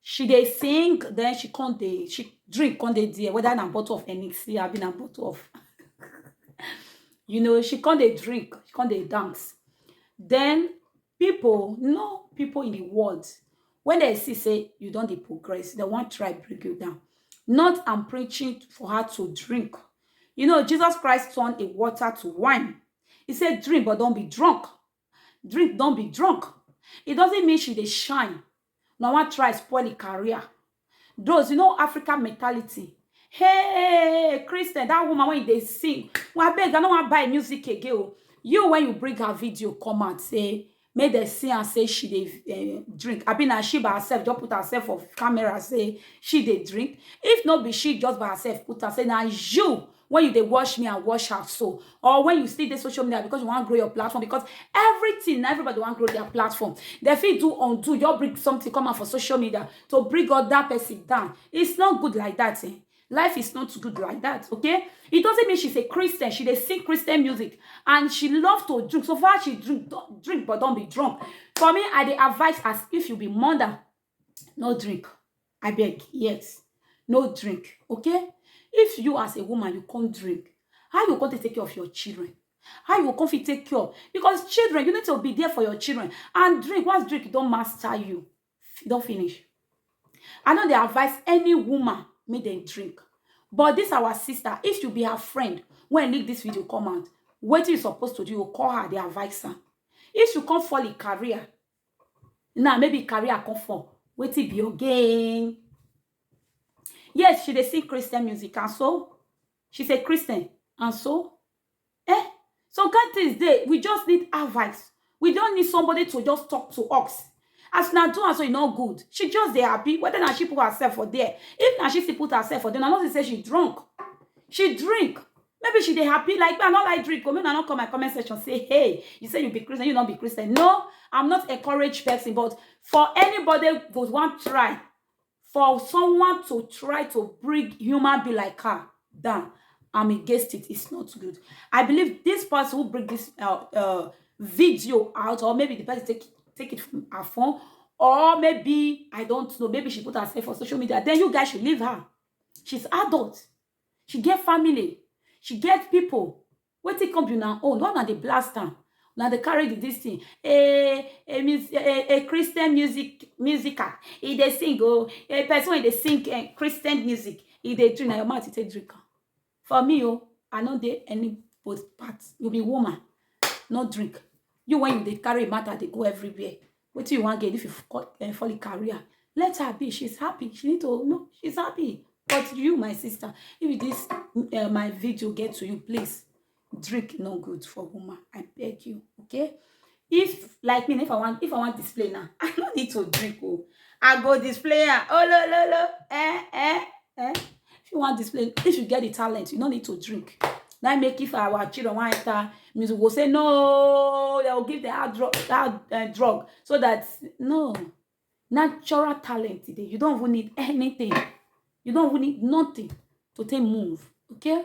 she dey sing then she come dey she drink come dey there whether na bottle of hennessy abi na bottle of you know she come dey drink she come dey dance then people you know people in the world when they see say you don dey progress they wan try bring you down not i'm preaching for her to drink you know jesus christ turned a water to wine he said drink but don't be drunk drink don be drunk e doesn't mean she dey shine na wan try spoil e career those you know africa mentality hey christian that woman wey you dey sing well abeg i no wan buy music again o you when you bring her video come out say make dem see am say she dey eh, drink abi na she by herself just put herself for camera say she dey drink if no be she just by herself put am say na you when you dey watch me and watch out so or when you still dey social media because you wan grow your platform because everything na everybody wan grow their platform dem fit do undo just bring something come out for social media to bring other person down it's not good like that eh? life is not good like that okay it doesn't mean she's a christian she dey sing christian music and she love to drink so far she drink don- drink but don be drunk for me i dey advise as if you be mother no drink i beg yes no drink okay if you as a woman you come drink how you come take take care of your children how you go come fit take care because children you need to be there for your children and drink once drink e don master you e don finish i no dey advise any woman make dem drink but this our sister if you be her friend when leak this video come out wetin you suppose to do you go call her dey advise her if you come fall in career now maybe carry her come for wetin be again yes she dey sing christian music and so she's a christian and so eh some kind things dey we just need advice we don need somebody to just talk to us as na do am so e no good she just dey happy whether na she put herself for there if na she still put herself for there na no see say she drunk she drink Maybe she dey happy like me, I no like drink, oh, make una no come my comment section say, hey, you say you be Christian, you no be Christian. No, I'm not a courage person, but for anybody who want try, for someone to try to bring human be like her down, I'm against it. It's not good. I believe this person who bring this uh, uh, video out, or maybe the person take take it from her phone, or maybe I don't know, maybe she put herself on social media. Then you guys should leave her. She's adult. she get family she get people wetin come be una own why una dey blast am una dey carry the this thing a a mus a a christian music musical e dey sing o a person wey dey sing eh, christian music e dey drink na your mouth e take drink am for me o i no dey any both part you be woman no drink you when you dey carry matter dey go everywhere What do you want get if you eh, fall in career? Let her be. She's happy. She need to no, she's happy. But you, my sister, if this uh, my video get to you, please drink no good for woman. I beg you. Okay? If like me, if I want if I want display now, I don't need to drink. Oh, I go display. Oh lo lo lo. Eh eh eh. if you wan display if you get the talent you no need to drink na make if our children wan enter music go say no they will give the hard drug hard uh, drug so that no natural talent today you don't even need anything you don't even need nothing to take move okay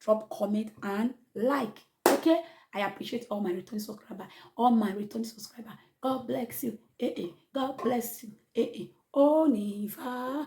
drop comment and like okay i appreciate all my returning subscriber all my returning subscriber god bless you eh eh god bless you eh eh onifa.